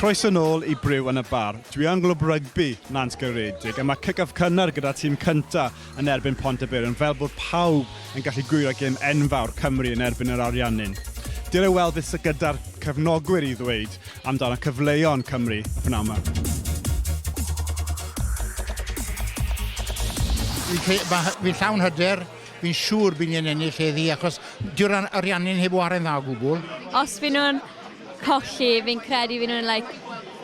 Croeso nôl i Briw yn y Bar. Dwi yng Nglwb Rygbi Nant Gyredig a mae kick-off cynnar gyda tîm cynta yn erbyn Pont y Beirn fel bod pawb yn gallu gwyro gêm enfawr Cymru yn erbyn yr Ariannin. Dere weld beth sydd gyda'r cefnogwyr i ddweud amdano cyfleon Cymru pnawn ma. Fi'n llawn hyder Fi'n siŵr bydd ni'n ennill heddi achos dyw'r an- Ariannin heb ware'n dda o gwbl. Os fy nhw'n colli, fi'n credu fy nhw'n like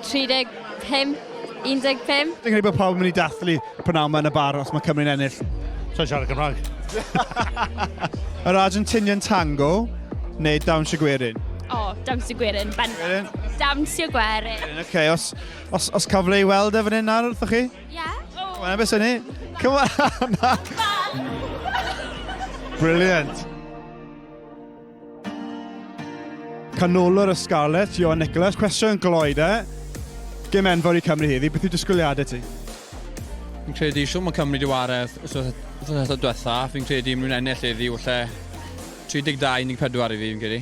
35, 15. Fi'n credu bod pawb yn mynd i dathlu p'nawn 'ma yn y bar os mae Cymru'n ennill. Sa i'n siarad Cymraeg. Yr Argentinian Tango neu Dawnsio Gwerin? O, Dawnsio Gwerin, bendant. Dawnsio Gwerin. Ocê, os, os, os cael ble i weld e fan hyn nawr wrthoch chi? Yeah. Oh. Come on, beth sy'n ni? Come on, Anna. Brilliant. Canolwr y Scarlets, Johan Nicholas. Cwestiwn gloi de. Gym enfawr i Cymru heddi, beth yw disgwyliadau ti? Fi'n credu siw mae Cymru diwaredd os oedd eto diwetha. Fi'n credu mwyn ennill heddi, wlle 32-14 i fi, fi'n credu.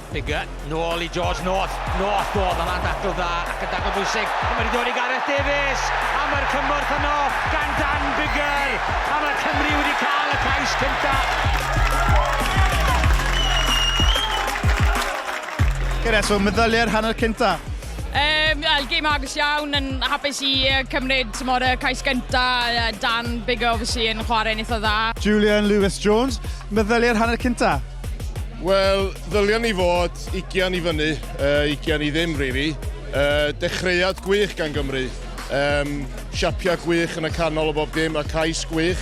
Biggar, nôl i George North, North dodd o lan dacl dda ac yn dacl bwysig, a mae'n dod i Gareth Davies, a mae'r cymorth yno gan Dan Biggar, a mae Cymru wedi cael y cais cyntaf. Gareth, so meddyliau'r hanner cyntaf? Um, well, game agos iawn, yn hapus i uh, cymryd tymor y cais gynta, uh, Dan Bigger obviously yn chwarae'n eitha dda. Julian Lewis Jones, meddyliau'r hanner cynta? Wel, ddylion ni fod ugian i fyny, uh, ugian i ddim, really. Uh, dechreuad gwych gan Gymru. Um, siapiau gwych yn y canol o bob dim, a cais gwych.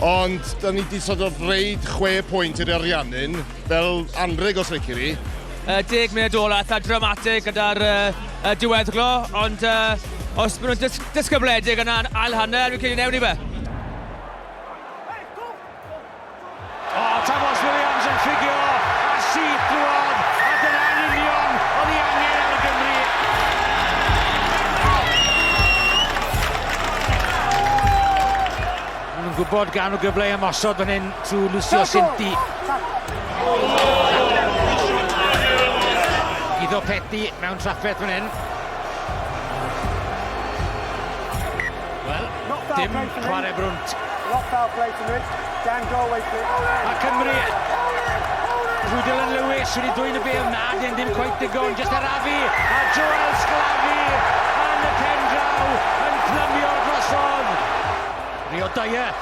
Ond, da ni wedi sort of reid chwe pwynt i'r Ariannin, fel anreg os reici ni. Uh, deg munud ola, eitha dramatig gyda'r uh, uh, diweddglo, ond uh, os maen nhw'n dys dysgybledig yna ail hanner, fi'n credu newn ni fe. Oh, Tomos Williams yn ffugio a syth drwodd, a dyna'n union oedd ei angen ar Gymru. Yn gwybod gan o gyfle i ymosod fan hyn trwy Lucio Sinti. Iddo Peti mewn trafferth fan hyn. Wel, dim chwarae brwnt. A Cymru... Drew Dylan Lewis wedi dwy'n y bel, na, dyn ddim cweith digon, just arafu, a Joel Sclafi yn y pen draw yn plymio drosodd. Rio Dyer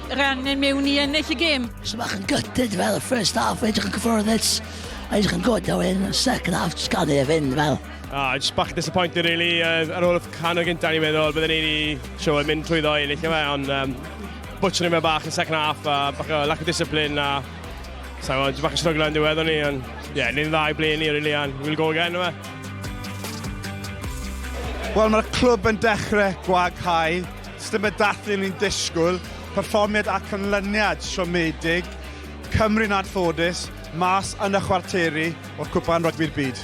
rhan yn mewn i ennill y gêm. So bach yn gytid fel y first half, edrych yn cyffyrddus, edrych yn gwrdd o hyn, second half, just gael ei fynd fel. Ah, just bach yn disappointed really, uh, ar ôl y can o gyntaf ni'n meddwl, byddwn ni'n wedi sio mynd trwy ddo i ennill yma, e, ond um, bwtio ni'n meddwl bach yn second half, a bach o lack of discipline, a sa'n gwybod, just bach yn struggle yn diwedd o'n ni, ond ie, yeah, ni'n dda i ble ni really, and we'll go again yma. Wel, mae'r clwb yn dechrau gwaghau Sdim y dathlu o'n i'n disgwyl, perfformiad a canlyniad siomedig, Cymru'n anffodus, mas yn y chwarteri o'r Cwpan Rygbi'r Byd.